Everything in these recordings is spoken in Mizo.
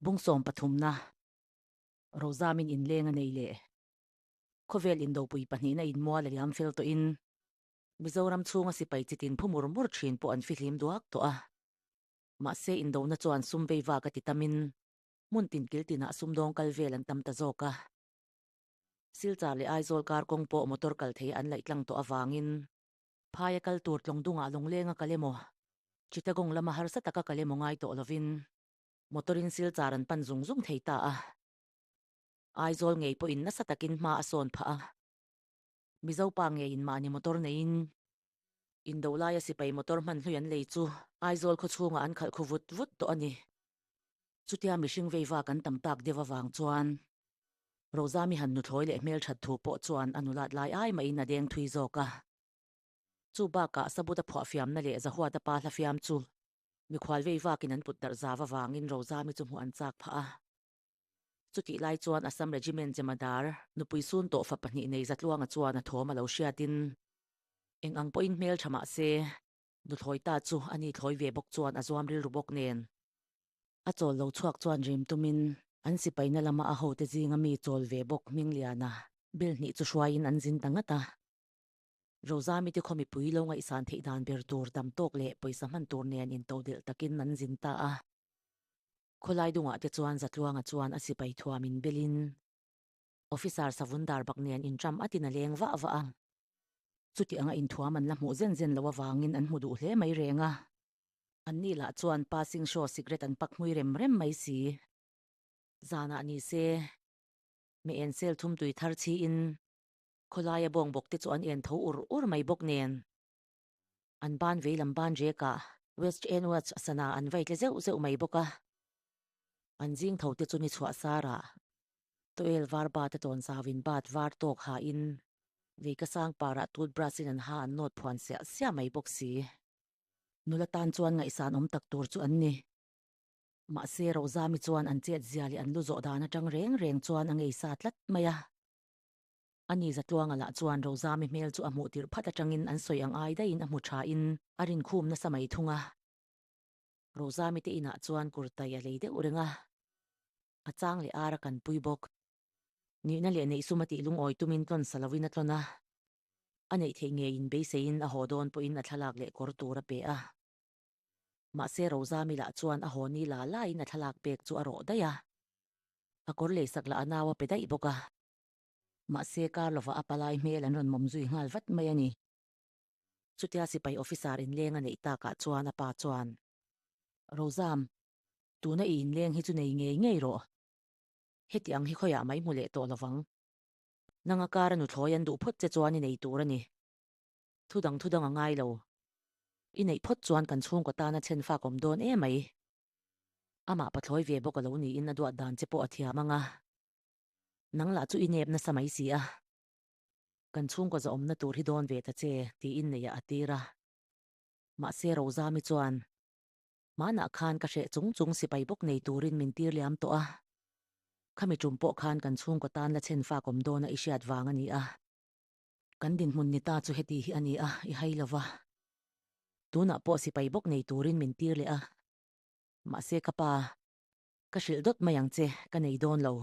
Bungsawm pathumna Rozamin inleng a nei leh khawvel indopui pahnihna inmual a liam fel tawhin Mizoram chhunga sipai chitin phu mur mur thin pawh an fihlim duak tawh a. Mahse indohna chuan sum veiva ka ti tamin hmun tin kil tinah sumdawng kal vel an tam ta zawk a. Silchar leh Aizawl kar kawng pawh motor kal theia an laih tlang tawh avangin phaia kal tur tlawng dungah lawng lenga kal emaw Chittagong lama harsa taka kal emaw ngai tawh lovin Motor in silchar an pan zung zung thei ta a. Aizawl ngei pawhin nasa takin hma a sawn phah a. Mizo pa ngeiin mahni motor neiin in doh laia sipai motor hman hlui an lei chu Aizawl khaw chhungah an khalh khu vut vut tawh a ni. Chutia mihring veiva kan tam tak deuh avang chuan Roza mi han hnuthlawi leh hmel that thu pawh chuan a nulat lai ai mahin a deng thui zawk a. Chu bakah Sabut-a phuahfiamna leh Zahuat-a pa hla fiam chu Mikhual vei vakin an putdarh zau avangin Rozami chu hmuh an chak phah a. Chutih lai chuan Assam Regiment Jemadar nupui sun tawh fa pahnih nei Zatluanga chuan a thawm a lo hriatin, Eng ang pawhin hmeltha mah se, Nuthlawita chu a ni thlawi ve bawk chuan a zuam rilru bawk nen. A chawl lo chhuak chuan rim tumin an sipaina lama a hote zinga mi chawl ve bawk Hmingliana bel hnih chu hruaiin an zin ta ngat a. Roza mite khaw mipui lo ngaihsan theih dan ber tur tam tawk leh pawisa hman tur nen intoh delh takin an zin ta a. Khawlai dungah te chuan Zatluanga chuan a sipai thuam in belin Officer savun dar bak nen inṭam atin a leng vah vah a. Chuti anga inthuam an la hmuh zen zen lo avangin an hmu duh hle mai reng a. Annih lah chuan passing show cigarette an pak hmui rem rem mai si. Zanah ni se, Meensel thumtui thar chhiin Khawlaia bawngbaw te chu an en tho ur ur mai bawk nen, an ban veilam ban riakah West End Watch a sana an vai tle zeuh zeuh mai bawk a. An zing tho te chu ni chhuahsarah towel var bat a tawnzau in bat var tawk ha in vei ka sang parah toothbrush in an ha an nawt phuan siah siah mai bawk si. Nula tan chuan ngaihsan awm tak tur chu an ni. Mahse Rozami chuan an chet zia leh an lu zawh dan atang reng reng chuan a ngei sa tlat mai a. A ni zatluanga lah chuan Rozami hmel chu a hmuh tirh phat atangin an sawi ang ai daiin a hmu thain a rinkhum nasa mai thung a. Rozami te inah chuan kurtai a lei deuh reng a, a chang leh ara kan pui bawk. Nihna leh neih suma tih lungawi tumin tlawnsa lovin a tlawn a, a neih theih ngeiin beiseiin a haw dawn pawhin a thlalak leh kawr tur a peh a. Mahse Rozami lah chuan a haw ni la laiin a thlalak pek chu a rawh daih a, a kawr lei sak lah a nau a pe daih bawk a. Mahse, kar lova a palai hmel an rawn mawm zui nghal vat mai a ni. Chutia sipai officer inleng a neih takah chuan a pa chuan, Rozam, tuna i inleng hi chu nei ngei ngei rawh. Hetiang hi khawiah mai hmu leh tawh lo vang. Nanga kar a nuthlawi an duh phawt che chuan i nei tur a ni. Thu dang thu dang a ngai lo. I neih phawt chuan kan chhungkaw tan a chhen fakawm dawn e mai. Amah pathlawi ve bawk a lo niin a duatdan che pawh a thiam ang a. Nang lah chu i nep nasa mai si a, kan chhungkaw zahawmna tur hi dawn ve ta che, tiin neihah a tir a. Mahse, Rozami chuan, Hmanah khan ka hreh chung chung sipai bawk nei turin min tir liam tawh a, khami ṭum pawh khan kan chhungkaw tan la chhen fak awm dawna i hriat vang a ni a. Kan dinhmun ni ta chu heti hi a ni a, i hai lo va, tunah pawh sipai bawk nei turin min tir leh a. Mahse, ka pa, Ka hrilh dawt mai ang che, ka nei dawn lo.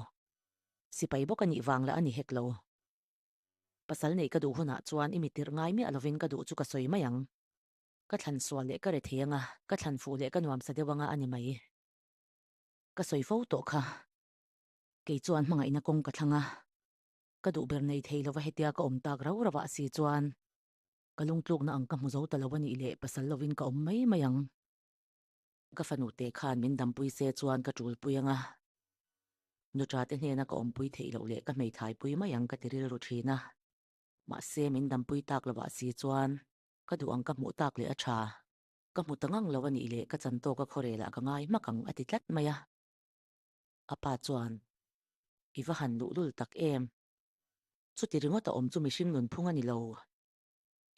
Sipai bawk a nih vang la a ni hek lo. Pasal neih ka duh hunah chuan i mi tirh ngai miah lovin ka duh chu ka sawi mai ang. Ka thlan sual leh ka re thei anga, ka thlan fuh leh ka nuam sa deuh anga a ni mai. Ka sawi fo tawh kha. Kei chuan hmangaihna kawng ka thlang a, ka duh ber nei thei lova hetia ka awm tak rau rauh a si chuan ka lungtlukna ang ka hmu zo ta lo a nih leh pasal lovin ka awm mai mai ang. Ka fanu te khan min dampui se chuan ka tulpui anga nu cha te hnena ka awmpui theih loh leh ka hmeihthaipui mai ang ka ti rilru thin a. Mahse min dampui tak lovah si chuan ka duh ang ka hmuh tak leh a tha. Ka hmu ta ngang lo a nih leh ka chan tawka khawrelah ka ngai hmak ang a ti tlat mai a. A pa chuan, I va han luh lul tak em? Chuti ringawt a awm chu mihring nunphung a ni lo.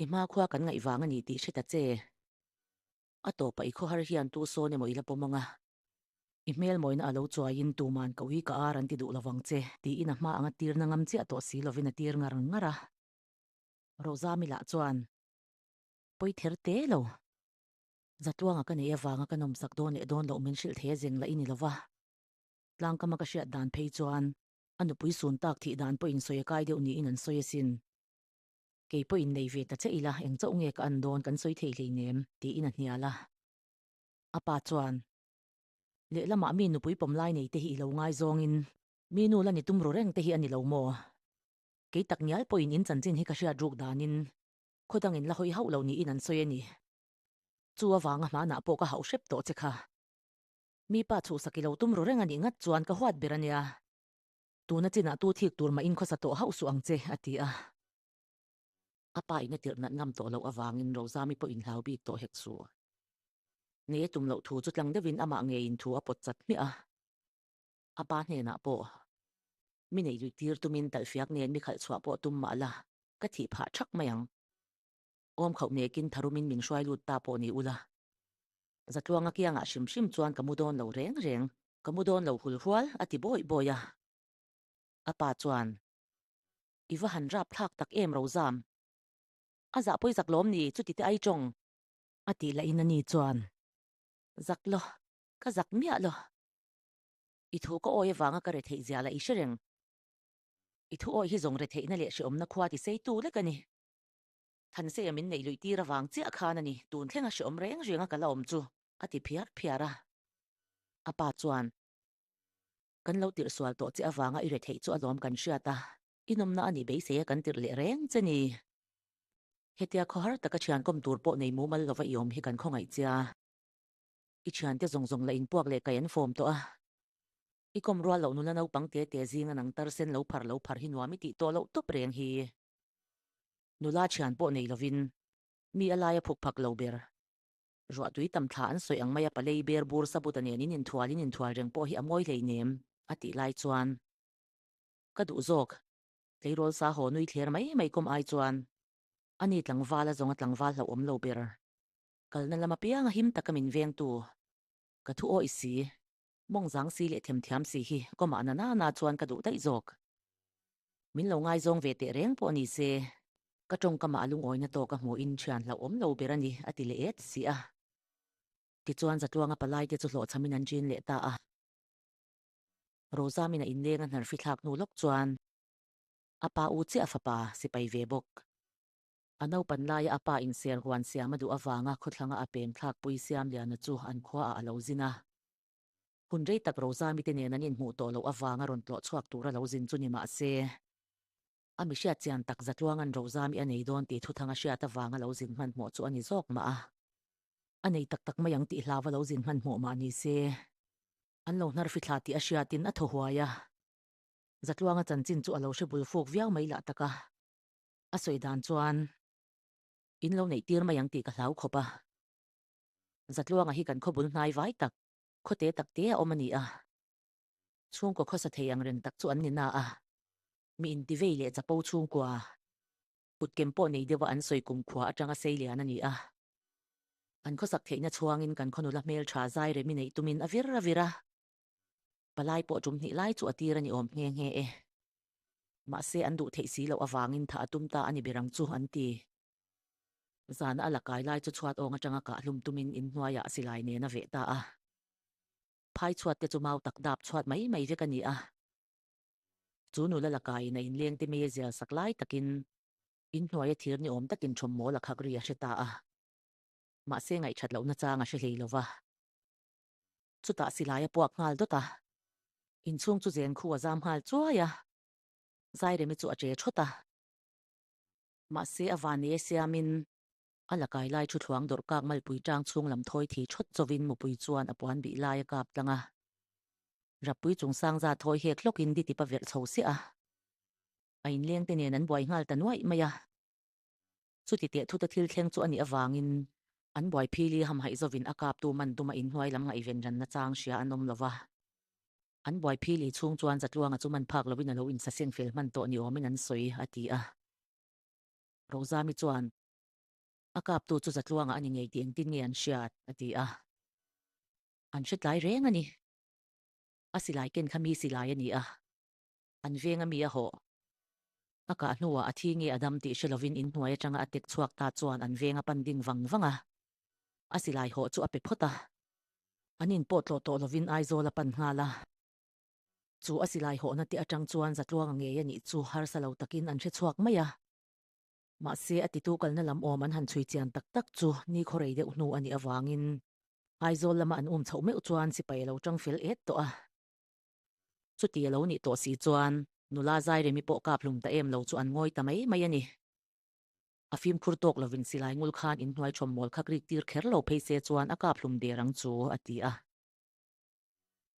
I hma khua kan ngaih vang a ni tih hre ta che. A tawpah i khawhar hian tu sawn emaw ila pawm anga, i hmelmawina a lo chuaiin tuman ko i ka ar an ti duh lo vang che, tiin a hma anga tirna ngam chiah tawh si lovin a tir ngar ngar a. Rozami lah chuan pawi ther te lo, Zatuanga ka nei avanga ka nawmsak dawn leh dawn loh min hrilh thei a zeng lah i ni lova, tlangkama ka hriat dan phei chuan a nupui sun tak thih dan pawhin sawi a kai deuh niin an sawi asin. Kei pawh in nei ve ta che ila, eng chauh nge ka an dawn kan sawi thei hleinem? tiin a hnial a. A pa chuan, Lehlamah mi nupui pawm lai nei te hi ilo ngai zawngin mi nu la ni tum ru reng te hi a ni lo maw? Kei tak ngial pawhin in chanchin hi ka hriat ruk danin khaw dangin la hawi hauh lo niin an sawi a ni. Chu avanga hmanah pawh ka hauh hrep tawh che kha. Mi pa chhuhsak ilo tum ru reng a nih ngat chuan ka huat ber a nia. Tuna chinah tu thik tur mah inkhawsa tawh hauh suh ang che, a ti a. A pa in a tirh nat ngam tawh loh avangin Rozami pawh in hlau bik tawh hek suh. Nei a tum loh thu chu tlang deuhin amah ngeiin thu a pawt chat hmiah a. A pa hnenah pawh, Mi neih luih tir tumin talhfiak nen mi khalh chhuah pawh tum mah la, ka thih phah thak mai ang. Awm khauh mekin tharumin min hruai lut ta pawh ni ula, Zatluanga kiangah hrim hrim chuan ka mu dawn lo reng reng, ka mu dawn lo hul hual a ti bawih bawih a. A pa chuan, I va han rap thlak tak em Rozam, a zah pawi zak lawm ni, chuti te ai tawng? A tih lahin ani chuan, Zak law, ka zak miah law. I thu ka awi avanga ka re theih zia la i hre reng. I thu awi hi zawng re theihna leh hreawmna khua ti sei tu lek ani. Thanseia min neih luih tir avang chiah khan a ni, tun thlenga hreawm reng renga ka la awm chu, a ti phiar phiar a. A pa chuan, Kan lo tirhsual tawh che avanga i retheih chu a lawm kan hriat a, i nawmna a nih beiseia kan tirh leh reng che ni. Hetia khaw har taka thiankawm tur pawh nei mumal lova i awm hi kan khawngaih che a. I thiante zawng zawng la inpuak leh kai an fawm tawh a. I kawm rual loh nula naupang te te zing an ang tarsen lo phar lo phar hi nuam i tih tawh loh tawp reng hi. Nula thian pawh nei lovin mi a laia phuk phak lo ber. Ruahtui tam thla an sawi ang mai a palei ber bur sabuta nen in inthual in inthual reng pawh hi a mawi hlei nem a tih lai chuan ka duh zawk. Tleirawl sa haw nui thler mai mai kawm ai chuan ani tlangvala zawnga tlangval hloh awm lo ber. Kalna lama pianga him taka min vengtu ka thu aw i si. Mawngzang si leh themthiam si hi kawmah na nana chuan ka duh daih zawk. Min lo ngai zawng ve teh reng pawh ni se, ka tawngkama a lungawina tawh ka hmuhin thian hlauh awm lo ber a ni, a ti leh e ti si a. Tichuan Zatluanga palai te chu hlawhchham in an ṭin leh ta a. Roza mina inleng a hnarhfithlak hnu lawk chuan a pa u chiah a fapa sipai ve bawk. A naupan laia a pa inser huan siam a duh avanga khawthlanga a peng thlak pui siam liana chu an khua ah a lo zin a. Hun rei tak Roza mite nen an inhmuh tawh loh avanga rawn tlawh chhuak tur a lo zin chu ni mah se, a mihriat chian tak za tluanga'n Roza mi a nei dawn tih thuthang a hriat avang a lo zin hmanhmawh chu a ni zawk mah a. A nei tak tak mai ang tih hlau a lo zin hmanhmawh mah ni se, an lo hnar fithla tih a hriatin a thaw huai a. Zatluanga chanchin chu a lo hre bulfuk viau mai lah tak a. A sawi dan chuan in lo neih tir mai ang tih ka hlau khawp a. Zatluanga hi kan khawbul hnai vai tak, khawte tak te a awm a ni a. Chhungkaw khawsa thei ang reng tak chu an ni na a. Mi in tivei leh chapo chhungkua, kutkem pawh nei deuha an sawi kum khua atanga sei lian a ni a. Kan khawsak theihna chhuangin kan khawnula hmeltha zai rem i neih tumin a vir a vir a. Palai pawh tum hnih lai chu a tir a ni awm nghe nghe e. Mahse an duh theih si loh avangin thah a tum ta a ni berang chu an ti. Zana a la kai lai chu chhuat awng atanga kah hlum tumin in hnuaiah silai nen a veh ta a. Phai chhuat te chu mau tak dap chhuat mai mai vek a ni a. Chu nula la kaiin a in leng te mai a zial sak lai takin in hnuaia thir ni awm takin thawm maw la khak ri a hre ta a. Mahse ngaihṭhat lohna chang a hre hlei lo va. Chutah silai a puak nghal dawt a, inchhung chu zen khu a zam nghal chuai a, Zairemi chu a che thawt a. Mahse a van nia siamin a la kai lai thuthluang dawrhkak malpui tang chhung lam thawi thih thawt chovin Mupui chuan a puan bih lai a kap tlang a. Rapui chung sang za thawi hek hlawkin ditip a verh chho siah a, a inlengte nen an buai nghal ta nuaih mai a. Chuti tehthuta thil thleng chu a nih avangin an buaiphil i hamhaih zovin a kaptu man duma inhnuai lam ngaihvenranna chang hria an awm lo va. An buaiphil i chhung chuan Zatluanga chu man phak lovin a lo insaseng fel hman tawh ni awmin an sawi a ti a. Rozami chuan, A kaptu chu Zatluanga a ni ngei tih engtin nge an hriat? a ti a. An hre tlai reng a ni. A silai ken kha mi silai a ni a. An veng a mi a haw. A kah hnuah a thi nge a dam tih hre lovin in hnuai atanga a tek chhuak ta chuan an veng a pan ding vang vang a. A silai haw chu a pe phawt a. An in pawh tlawh tawh lovin Aizawl a pan nghal a. Chu a silai haw na teh atang chuan za tluang a ngei a nih chu harsa lo takin an hre chhuak mai a. Mahse, a titu kalna lam awm an han chhui chian tak tak chu ni khaw rei deuh hnu a nih avangin Aizawl lama an um chhoh meuh chuan sipai a lo chang fel et tawh a. Chuti a lo nih tawh si chuan nula Zairemi pawh kap hlum ta em lo chu an ngawi ta mai mai a ni. A fimkhur tawk lovin silai ngul khan in hnuai thawm mawl kha krik tir kher lo phei se chuan a kap hlum der ang chu a ti a.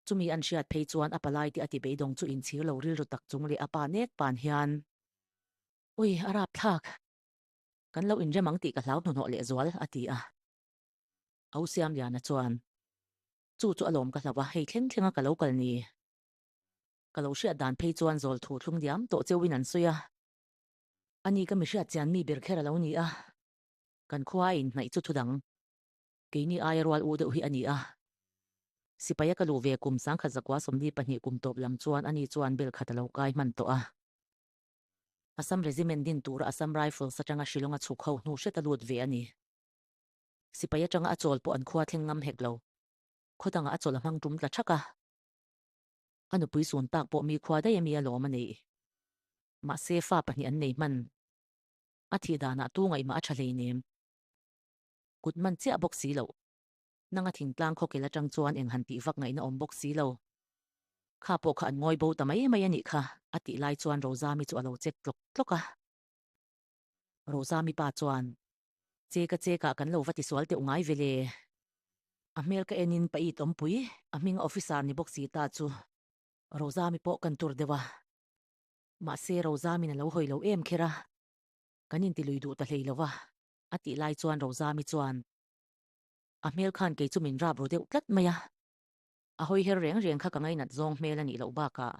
Chumi an hriat phei chuan a palai te a ti beidawng chu inchhir lo rilru tak chung leh a pa nek pan hian. Ui, a rapthlak. Kan lo inrem ang tih ka hlau hnuhnawh leh zual a ti a. Ausiamliana chuan. Chu chu a lawm ka hlauh a, hei thleng thlenga ka lo kal ni. Ka lo hriat dan phei chuan zawl thu thlum diam tawh cheuhin an sawi a. A ni ka mi hriat chian mi ber kher a lo ni a. Kan khua a in hnaih chu thu dang. Keini aia rual u deuh hi a ni a. Sipaia ka luh ve kum sangkhat zakua sawmli pahnih kum tawp lam chuan a ni chuan bel khat a lo kai hman tawh a. Assam Regiment din tura Assam Rifles atanga Shillong a chhuk ho hnu hriat a lut ve a ni. Sipai atanga a chawl pawh an khua thleng ngam hek lo. Khawdangah a chawl a hmang tum ta thak a. A nupui sun tak pawh mi khua daih ami a lawm a nei. Mahse fa pahnih an nei hman. A thih danah tu ngaihmah a tha hleinem. Kut man chiah bawk si lo. Nanga thingtlang khawkel atang chuan eng han tih vak ngaihna awm bawk si lo. Kha pawh kha an ngawi bo ta mai mai a nih kha, a tih lai chuan Rozami chu a lo chet tlawk tlawk a. Rosa mipa chuan, Che ka che ka kan lo va ti sual teuh ngai vele. A hmel ka enin pa i tawmpui, a hminga officer ni bawk si ta chu. Rosa mi pawh kan tur deuh a. Mahse Rosa min a lo hawi lo em kher a, kan inti lui duh ta hlei lo a, a tih lai chuan Rosa mi chuan, A hmel khan kei chu min rap ru deuh tlat mai a. A hawi her reng reng kha ka ngainat zawng hmel a nih loh bakah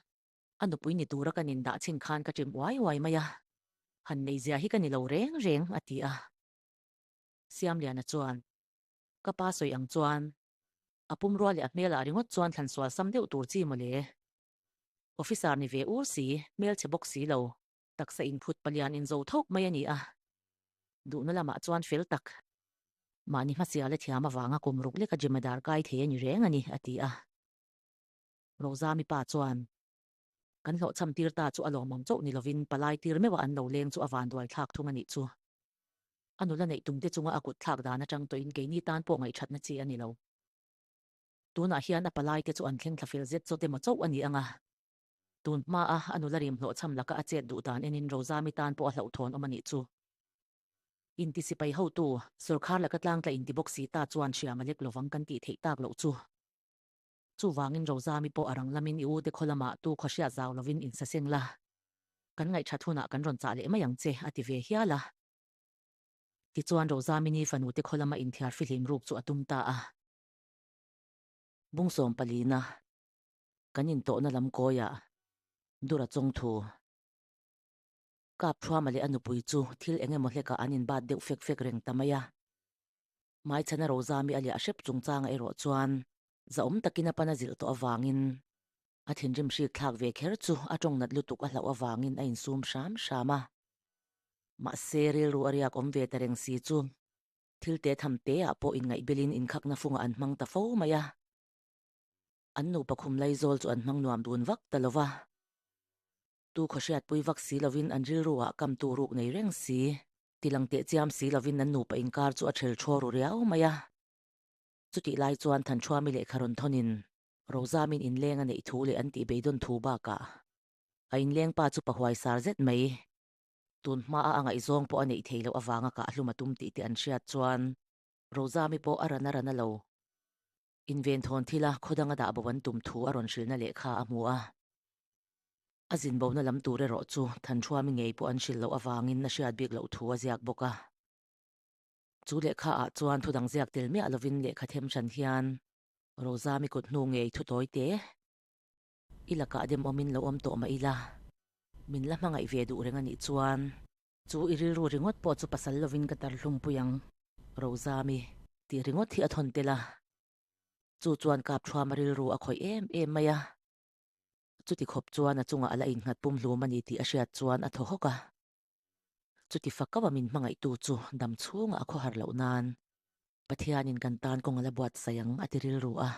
A nupui ni tura kan indah chhin khan ka chim uai uai mai a, han nei zia hi ka ni lo reng reng, a ti a. Siamliana chuan ka pa sawi ang chuan a pum rual leh a hmel ah ringawt chuan thlan sual sam deuh tur chi mawle. Officer ni ve ur si, hmelchhe bawk si lo. Taksa inphut palian in zo thawk mai a ni a, duhna lamah chuan fel tak. Mahni hmasial a thiam avanga kum ruk leka Jemadar kai thei a ni reng a ni, a ti a. Roza mipa chuan kan hlawhchham tir ta chu a lawmawm chauh ni lovin palai tir meuh a an lo leng chu a vanrual thlak thung a nih chu. A nula neih tum te chunga a kut thlak dan atang tawhin keini tan pawh ngaihthatna chi a ni lo. Tunah hian a palai te chu an thleng thla fel zet chaw te maw chauh a ni ang a. Tun hma a a nula rim hlawhchham laka a chet duh dan enin Roza mi tan pawh a hlauh thawn awm a nih chu. Intisipai hotu, sorkar laka tlangtla inti bawk si ta chuan hria malek lovang kan tih theih tak loh chu. Chuvangin Rozami pawh a ranglamin i ute khaw lama tu khawhriat zau lovin in sa seng la, kan ngaihthat hunah kan rawn chah leh mai ang che, a ti ve hial a. Tichuan Rozamini fanute khaw lama inthiar fihlim ruk chu a tum ta a. Bungsawm palina, kan intawhna lam kawiah Dura chawngthu, Kapthruama leh a nupui chu thil eng emaw hlekah an inbat deuh fek fek reng ta mai a. Hmaichhana Rozami a liah hrep chungchanga erawh chuan zahawm takin a pan a zilh tawh avangin a thinrim hrik thlak ve kher chu a tawngnat lutuk a hlauh avangin a insum hram hram a. Mahse, rilru a riak awm ve ta reng si chu thil te tham teah pawh inngaihbelin inkhakna funga an hmang ta fo mai a. An nu pakhum lei zawl chu an hmang nuam dun vak ta lova. Tu khawhriatpui vak si lovin an rilruah kamtu ruk nei reng si. tilang teh chiam si lovin an nupa inkar chu a ṭhel ṭhuau ru riau mai a. Chutih lai chuan Thanchhuami lehkha rawn thawnin Rozamin inleng a neih thu leh an tih beidawn thu bakah a inleng pa chu pahuai sar zet mai. Tun hmaa a ngaihzawng pawh a neih thei loh avanga kah hlum a tum tih te an hriat chuan Rozami pawh a ran a ran a lo. Inventhâwn thila khaw danga dah bo an tum thu a rawn hrilna leh kha a hmu a. A zin bona lam tur erawh chu Thanhruami ngei pawh an hrilh loh avângin a hriat bîk loh thu a ziak bawk a. Chu lehkhaah chuan thudang ziak tel miah lovin lehkha them hran hian. Rozami kuthnu ngei thuttawi te, i lakah demawmin lo awm tawh mah ila, min la hmangaih ve duh reng a nih chuan. Chu i rilru ringawt pawh chu pasal lovin ka dar hlungpui ang, Rozami. Tih ringawt hi a thawn tel a, chu chuan kap thuam a rilru a khawih em em mai a, chuti khawp chuan a chungah a la inghat pum hlum a ni tih a hriat chuan a thaw hawk a, chuti fa kauh a min hmangaihtu chu dam chhungah a khawhar loh nan, Pathianin kan tan kawng a la buatsaih ang a ti rilru a.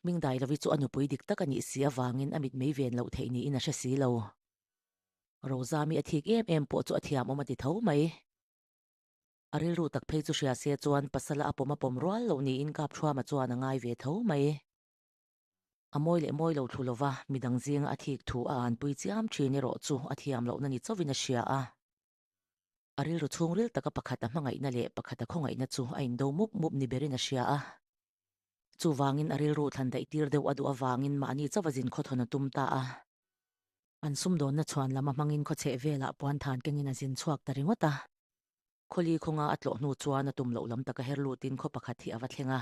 Hming dai lovi chu a nupui dik tak a nih si avangin a mitmei ven loh theih niin a hre si lo. Rozami a thik em em pawh chu a thiamawm a ti tho mai. A rilru tak phei chu hria se chuan pasala a pawm a pawm rual lo niin Kapthuama chuan a ngai ve tho mai. A mawi leh mawi lo thlu lova midang zinga a thik thu a an pui chiam thin erawh chu a thiam lohna ni chauhin a hria a. A rilru chhungril taka pakhat a hmangaihna leh pakhat a khawngaihna chu a indo mup mup ni berin a hria a. Chuvangin a rilru thlan daihtir deuh a duh avangin mahni chauh a zin khawthawn a tum ta a. An sumdawnna chhuan lama hmangin khawchheh velah puanthan kengin a zin chhuak ta ringawt a. Khawli khawnga a tlawh hnu chuan a tum loh lam taka her lutin khaw pakhat hi a va thleng a.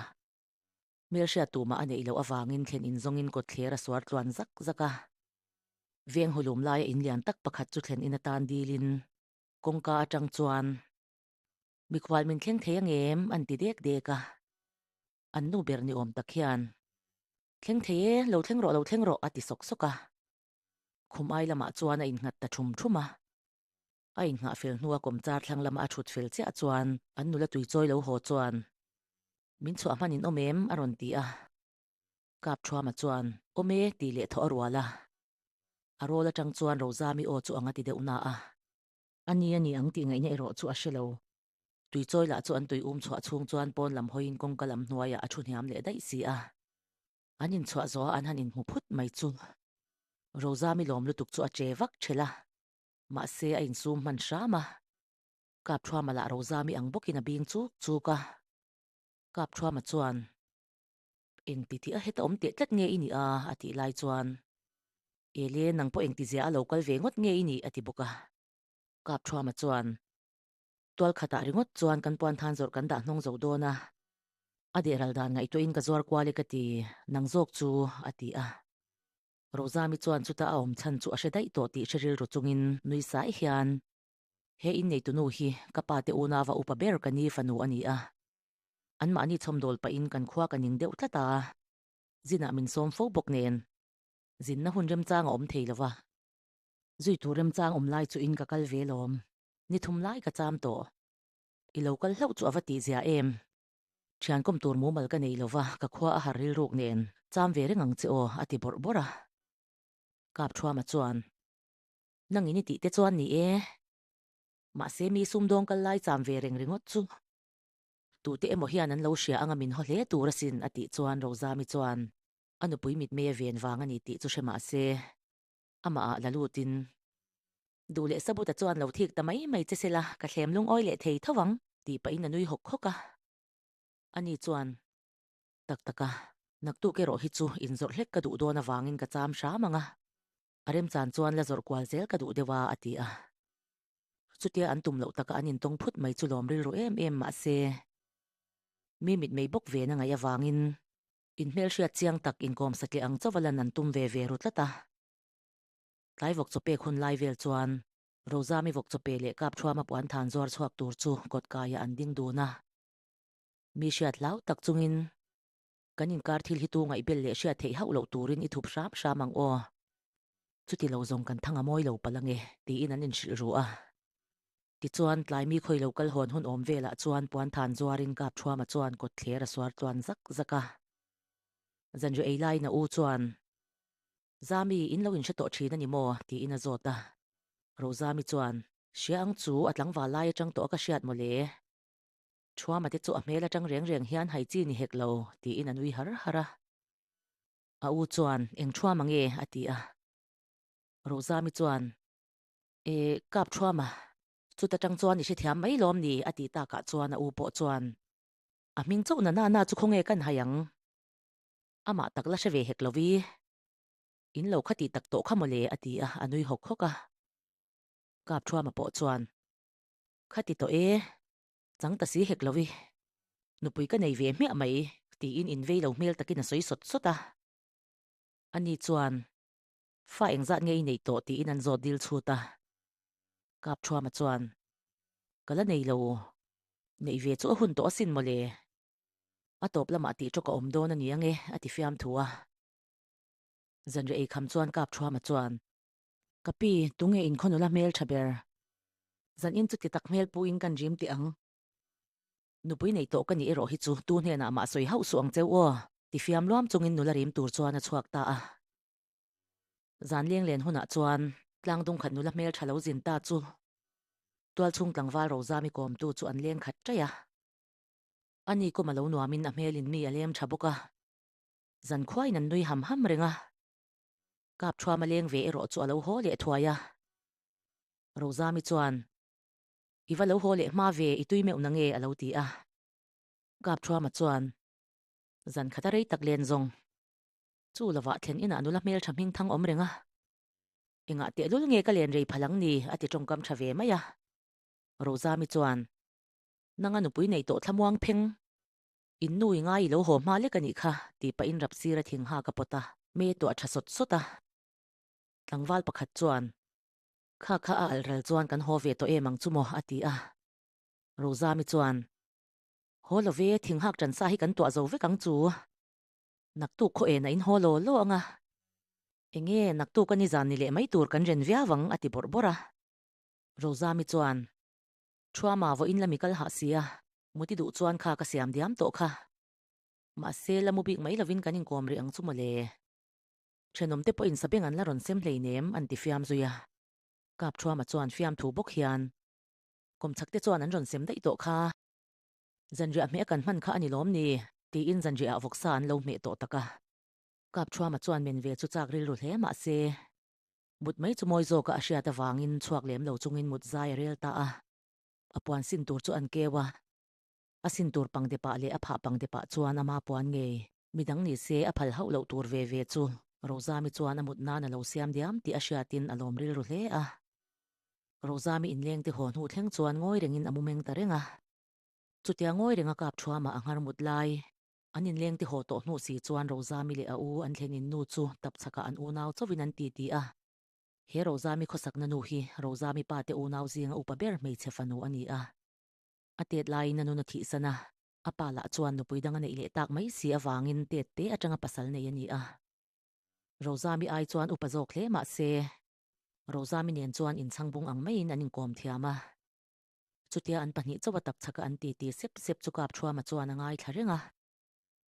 Hmelhriat tumah a neih loh avangin thlen in zawngin kawtthler a suar tluan zak zak a. Veng hawlum laia in lian tak pakhat chu thlen in a tan dilin kawngka atang chuan, Mikhual min thleng thei ang em? an ti dek dek a. An nu ber ni awm tak hian, Thleng thei e, lo thleng rawh, lo thleng rawh, a ti sawk sawk a. Khum ai lamah chuan a in nghat ta thum thum a. A inngah fel hnua kawmchar thlang lama a thut fel chiah chuan an nula tui chawi lo haw chuan, Min chhuah hman in awm em? a rawn ti a. Kapthuama chuan, Awm e, tih leh thawh a rual a. A rawl atang chuan Rozami aw chu anga ti deuh na a. A ni a ni ang tih ngaihna erawh chu a hre lo. Tui chawi lah chu an tui um chhuah chhung chuan pawn lam hawiin kawngka lam hnuaiah a thu hniam leh daih si a. An inchhuah zawha an han inhmu phut mai chu. Rozami lawm lutuk chu a che vak ṭhelh a. Mahse a insum hman hram a, Kapthuama lah Rozami ang bawkin a bing chuk chuk a. Kapthuama chuan, Engti tih a heta awm teh tlat nge i nih a? a tih lai chuan, Ele nang pawh engti zia a lo kal ve ngawt nge i nih? a ti bawk a. Kapthuama chuan, Tual khatah ringawt chuan kan puanthan zawrh kan dah hnawng zo dawn a, a dehral dan ngaihtuahin ka zuar kual e ka ti, nang zawk chu, a ti a. Rozami chuan chuta a awm chhan chu a hre daih tawh tih hre rilru chungin nui sai hian. He inneitunu hi ka pa te una va upa ber ka ni fanu a ni a. Anmahni chhawmdawl pahin kan khua ka ning deuh tlat a. Zinah min sawm fo bawk nen. Zinna hun remchang a awm thei lo va. Zui tur remchang awm lai chu in ka kal ve lawm. Ni thum lai ka cham tawh. I lo kal hlauh chu a va tihzia em. Thiankawm tur mumal ka nei lova, ka khua a har rilruk nen, cham ve reng ang che aw, a ti bawrh bawrh a. Kapthuama chuan, Nangin i tihte chuan ni e. Mahse mi sum dawng kal lai cham ve reng ringawt chu. Tute emaw hian an lo hria anga min haw hle tur asin, a tih chuan Rozami chuan, A nupui mitmei a ven vang a ni tih chu hre mah se, amaha la lutin, Du leh Sabuta chuan lo thik ta mai mai che sela, ka thlem lungawi leh thei tho ang, tih pahin a nui hawk hawk a. Ani chuan, Tak tak a, naktuk erawh hi chu inzawrh hlek ka duh dawn avangin ka cham hram ang a, a remchan chuan la zawrh kual zel ka duh deuh a, a ti a. Chutia an tum loh taka an intawng phut mai chu lawm rilru em em mahse, mi mitmei bawk ve na ngaih avangin in hmelhriat chiang tak inkawmsa tleh ang chauh a lan an tum ve ve ru tlat a. Tlai vawk chawpek hun lai vel chuan Rozami vawk chawpe leh kap thuama puan than zuar chhuak tur chu kawt kaiah an ding dun a. Mi hriat hlau tak chungin kan inkar thil hi tu ngaihbel leh hriat theih hauh loh turin i thup hram hram ang aw. Chuti lo zawng kan thang a mawi lo pal ange, tiin an inhrilh ruh a. Tichuan, tlai mi khawi lo kal hawn hun awm velah chuan puan than zuarin kap thuama chuan kawt thler a suar tluan zak zak a. Zanriaheilai na u chuan. Zami, in lo inhre tawh thin a ni maw? tiin a zawt a. Rozami chuan, Hria ang chu a tlangval lai atang tawh a ka hriat mawle. Thuama te chu a hmel atang reng reng hian hai chi ni hek lo, tiin a nui har har a. A u chuan, Eng thuama nge? a ti a. Rozami chuan, E, kap thuama. Chuta tang chuan i hrethiam mai lawm ni, a tih takah chuan a u pawh chuan, A hming chauh na nana chu khawnge kan hai ang? Amah tak la hre ve hek lovi, In lo kha tih tak tawh kha mawle a ti a, a nui hawk hawk a. Kap Thuama pawh chuan, Kha ti tawh e, chang ta si hek lovi, nupui ka nei ve hmiah mai tiin in vei lo hmel takin a sawi sawt sawt a. Ani chuan, Fa engzat nge i nei tawh tiin an zawt dil chhut a. Kap Thuama chuan, Ka la nei lo, neih ve chu a hun tawh asin mawle, A tawp lamah tih ṭawk a awm dawn a ni ang e, a ti fiam thu a. Zanriaei kham chuan kap ṭhuam a chuan. Ka pi, tunge in khawn u la hmelṭha ber. Zan in chu ti tak hmel pu in kan rim teh ang. Nupui nei tawh ka nih erawh hi chu tu hnenah mah sawi hauh suh ang cheu aw, ti fiam luam chungin nula rim tur chuan a chhuak ta a. Zan leng len hunah chuan. Tlang dung khat nula hmelṭha lo zin ta chu tual chhung tlangval rosam i kawm tu chu an leng khat ṭai a. A ni kawm a lo nuam in a hmel in mi a lem tha bawk a, zan khuai in an nui ham ham reng a, kap thuam a leng ve erawh chu a lo haw leh thuai a. Rozami chuan, I va lo haw leh hma ve i tui meuh na nge a lo ti a, kap thuama chuan zan khata rei tak len zawng chu lo vah thleng in a nula hmel tha hming thang awm reng a, engah tehlul nge ka len rei phal ang ni a ti tawngkam tha ve mai a. Rozami chuan, Nanga nupui nei tawh thlamuang pheng. In nu i ngai i lo haw hma lek a nih kha tih pahin rap sira thing hak a pawt a, me tawh a tha sawt sawt a. Tlangval pakhat chuan. Kha kha a alh rel chuan kan haw ve tawh em ang chu maw a ti a. Rozami chuan. Haw lo ve, thing hak tan sa hi kan tuah zo vek ang chu. Naktuk khaw en a in haw law law ang a. Enge, naktuk a nizan ni leh mai tur kan ren viau ang a ti bawrh bawrh a. Rozami chuan. Thua mah vawiin la mi kal hah si a. Muti duh chuan kha ka siam diam tawh kha. Mahse la mu bik mai lovin kan inkawm rih ang chu mawle. Thenawmte pawhin sabeng an la rawn sem hleinem an ti fiam zui a. Kap thua mah chuan fiam thu bawk hian. Kawmchhak te chuan an rawn sem daih tawh kha. Zanriah hmeh kan hman kha a ni lawm ni? tiin Zanriah ah vawksa an lo hmeh tawh tak a. Kap thua mah chuan men ve chu chak rilru hle mahse. Mut mai chu mawi zawka a hriat avangin chhuak lem lo chungin mut zai a rel ta a, a puan sin tur chu an keu a, a sin tur pangde pah leh a phah pangde pah chuan ama puan ngei. Midang ni se a phal hauh loh tur ve ve chu Rozami chuan a mut nan a lo siam diam tih a hriatin a lawm rilru hle a. Rozami inlengte haw hnu thleng chuan ngawi rengin a mu meng ta reng a, chutia ngawi renga kap thuama a ngar mut lai. An inleng ti haw tawh hnu si chuan Rozami leh a u an thlenin nu chu tap chhakah an unau chauhin an titi a. He Rozami khawsakna nu hi Rozami pa te unau zinga upa ber hmeichhe fanu a ni a. A Tet laiin a nun a thihsan a, a pa lah chuan nupui dang a neih leh tak mai si avangin Tet te atanga pasal nei a ni a. Rozami ai chuan upa zawk hle mah se, Rozami nen chuan inchhangbung ang maiin an inkawm thiam a. Chutia an pahnih chauh a tak chhak a an ti ti sep sep chu kap thuama chuan a ngaithla reng a.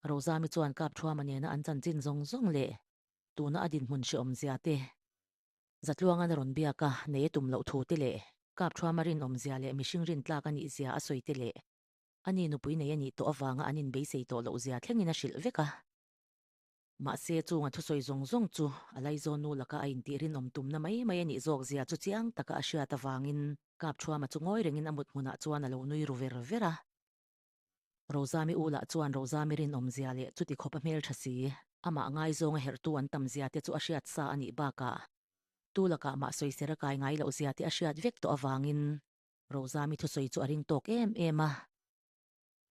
Rozami chuan kap thuama nena an chanchin zawng zawng leh tuna a dinhmun hreawmzia te, zatluanga na rawn biak a nei a tum loh thu te leh kap thuama rinawmzia leh mihring rintlak a nihzia a sawi te leh ani nupui nei a nih tawh avanga an inbeisei tawh lohzia thlengin a hrilh vek a. Mahse, chunga thusawi zawng zawng chu a Laizawn nu laka a intih rinawm tumna mai mai a nih zawk zia chu chiang taka a hriat avangin, Kapthuama chu ngawi rengin a mut hmunah chuan a lo nui ru ver ver a. Rozami u lah chuan Rozami rinawm zia leh chuti khawpa hmeltha si, amah ngaizawnga herhtu an tam zia te chu a hriat sa a nih bakah, tu lakah mah sawi ser a kai ngai loh zia te a hriat vek tawh avangin, Rozami thusawi chu a ring tawk em em a.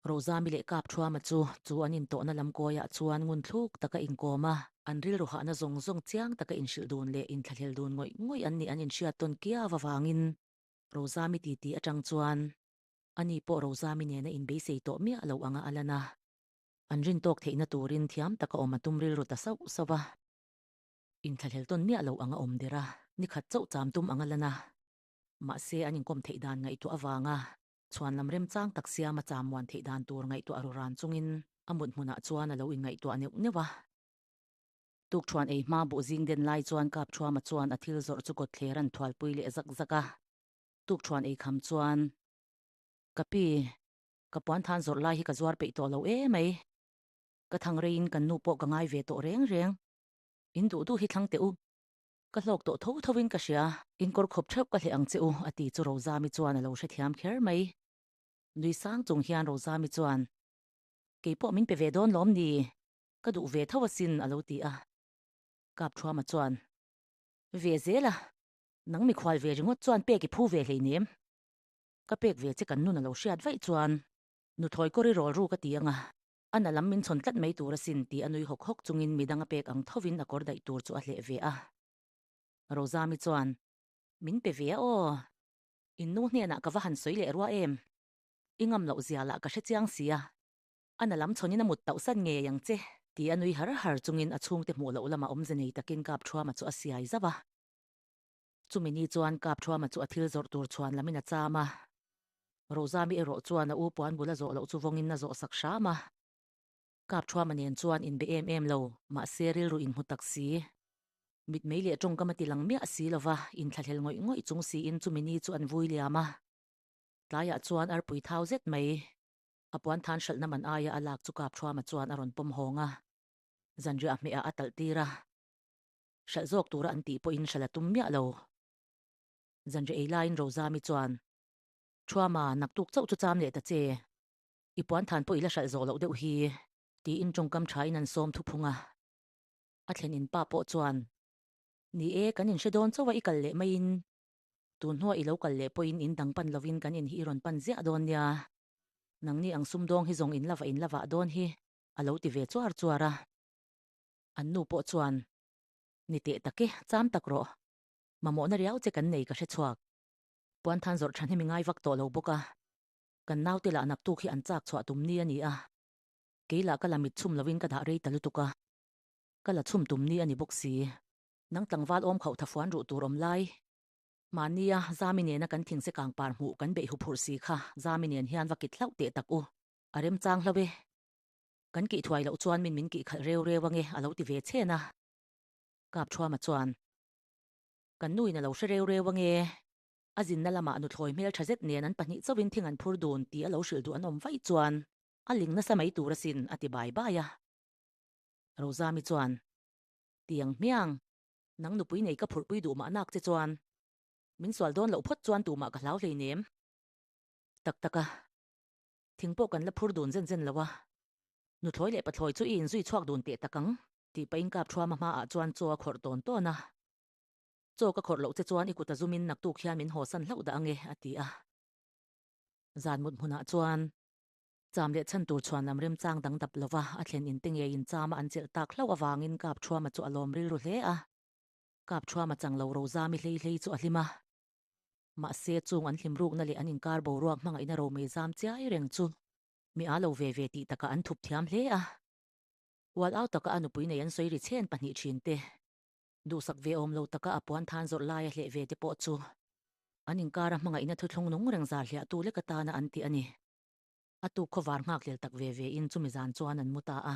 Roza mi leh kap thuama chu chu an intawhna lam kuaiah chuan ngun thluk taka inkawm a, an rilru hahna zawng zawng chiang taka inhrilh dun leh inthlahlel dun ngawih ngawih an nih an inhriat tawn kiau avangin Roza mi titi atang chuan ani pawh Roza mi nena inbeisei tawh miah loh anga a lan a, an rin tawk theihna turin thiam taka awm a tum rilru ta sauh sauh a, inthlahlel tawn miah loh anga awm der a, nikhat chauh cham tum anga lan a, mahse an inkawm theih dan ngaihtuah avanga Chhuanlam remchang tak siama chamuan theih dan tur ngaihtuah ruran chungin a mut hmunah chuan a lo inngaihtuah neuh neuh a. Tukṭhuan ei hma buh zing den lai chuan Kapṭhuama chuan a thil zawrh chu kawtthle ran thualpui leh zak zak a. Tukṭhuan ei kham chuan, Ka pi, ka puanthan zawrh lai hi ka zuar peih tawh lo e mai. Ka thang reiin kan nu pawh ka ngai ve tawh reng reng. In duh duh hi thlang teh u. Ka hlawk tawh tho tho in ka hria, in kawr khawp theuh ka hleh ang che u, a ti chu Rozami chuan a lo hrethiam kher mai. Nui sang chung hian Rozami chuan, Kei pawh min pe ve dawn lawm ni? Ka duh ve tho asin, a lo ti a. Kapthuama chuan, Ve zel a, nang mikhual ve ringawt chuan pek i phu ve hlei nem. Ka pek ve che kan nun a lo hriat vaih chuan, Nuthawi kawr i rawlru ka ti ang a, A na lam min chhawn tlat mai tur asin, ti a nui hawk hawk chungin mi danga pek ang thovin a kawr daih tur chu a hleh ve a. Rozami chuan, Min pe ve a aw. Innu hnenah ka va han sawi leh rua em? I ngam loh zia lah ka hre chiang si a. A na lam chhawnin a mut tauh san ngei ang che, ti a nui har har chungin a chhungte hmuh loh lamah awmze nei takin kap thuama chu a siai zauh a. Chumi ni chuan Kap Thruama chu a thil zawrh tur chhuan lamin a cham a. Rozami erawh chuan a u puan bula zawh loh chu vawngin a zawh sak hram a. Kap Thruama nen chuan in be em em lo, mahse rilru in hmu tak si. Mitmei leh tawngkam a ti lang miah si lova, in thlahlel ngawih ngawih chung siin chumi ni chu an vui liam a. Tlaiah chuan arpui thau zet mai. A puan than hralhna man aia a lak chu Kap Thruama chuan a rawn pawm hawng a. Zanriah hmehah a talh tir a. Hralh zawk tura an tih pawhin hralh a tum miah lo. Zanri ei laiin Rozami chuan, Thuama, naktuk chauh chu cham leh ta che. I puanthan pawh i la hralh zawh loh deuh hi, tiin tawngkam thain an sawm thu phung a. A thlen in pa pawh chuan, Ni e, kan inhre dawn chauh a i kal leh maiin, tun hnuah i lo kal leh pawhin in dang pan lovin kan in hi i rawn pan ziah dawn nia. Nangni ang sumdawng hi zawng in lava in la vah dawn hi, a lo ti ve chuar chuar a. An nu pawh chuan, Ni teh tak e, cham tak rawh. Mamawhna riau che kan nei ka hre chhuak. Puanthan zawrh tha hnim i ngai vak tawh lo bawk a, kan naute lah naktuk hi an chak chhuah tum ni a ni a, kei lah ka la mit chhum lovin ka dah rei ta lutuk a, ka la chhum tum ni a ni bawk si. Nang tlangval awm khauh thafuan ruh tur awm lai. Mahnia Zami nena kan thing se kang par hmuh kan beih huphurh si kha Zami nen hian va kit hlauh teh tak u. A remchang hlauh e. Kan kih thuai loh chuan min min kih khalh reu reu ange a lo ti ve chen a. Kapthuama chuan, Kan nu in a lo hre reu reu ange, a zinna lamah nuthlawi hmel tha zet nen an pahnih chauhin thing an phur dun tih a lo hrilh duh an awm vaih chuan a ling nasa mai tur asin, a ti bai bai a. Rozami chuan, Tiang hmiang, nang nupui nei ka phurhpui duh mahnak che chuan min sual dawn loh phawt chuan tumah ka hlau hleinem tak tak a. Thing pawh kan la phur dun zen zen lo a, nuthlawi leh pathlawi chu i inzui chhuak dun teh tak ang. Tih pahin kap thuama hmaah chuan chaw a khawrh tawn tawn a. Chaw ka khawrh loh che chuan i kuta zumin naktuk hian min haw san hlauh dah ang e, a ti a. Zan mut hmunah chuan cham leh chhan tur chhuan lam remchang dang dap lova a thlen in te ngeiin chama an chelh tak hlauh avangin kap thuama chu a lawm rilru hle a. Kap thuama chang lo ro zami hlei hlei chu a hlim a. Mahse, chung an hlimrukna leh an inkar boruak hmangaihna romi zam chiai reng chu mi aa lo ve ve tih takah an thup thiam hle a. Kual au taka a nupui nei an sawi ri chhen pahnih thin te, duhsak ve awm lo taka a puan than zawrh lai a hleh ve te pawh chu an inkara hmangaihna thuthlung nung reng zar hliah tu lek atana an ti a ni. A tu khawvar nghak hlel tak ve ve in chumi zan chuan an mu ta a.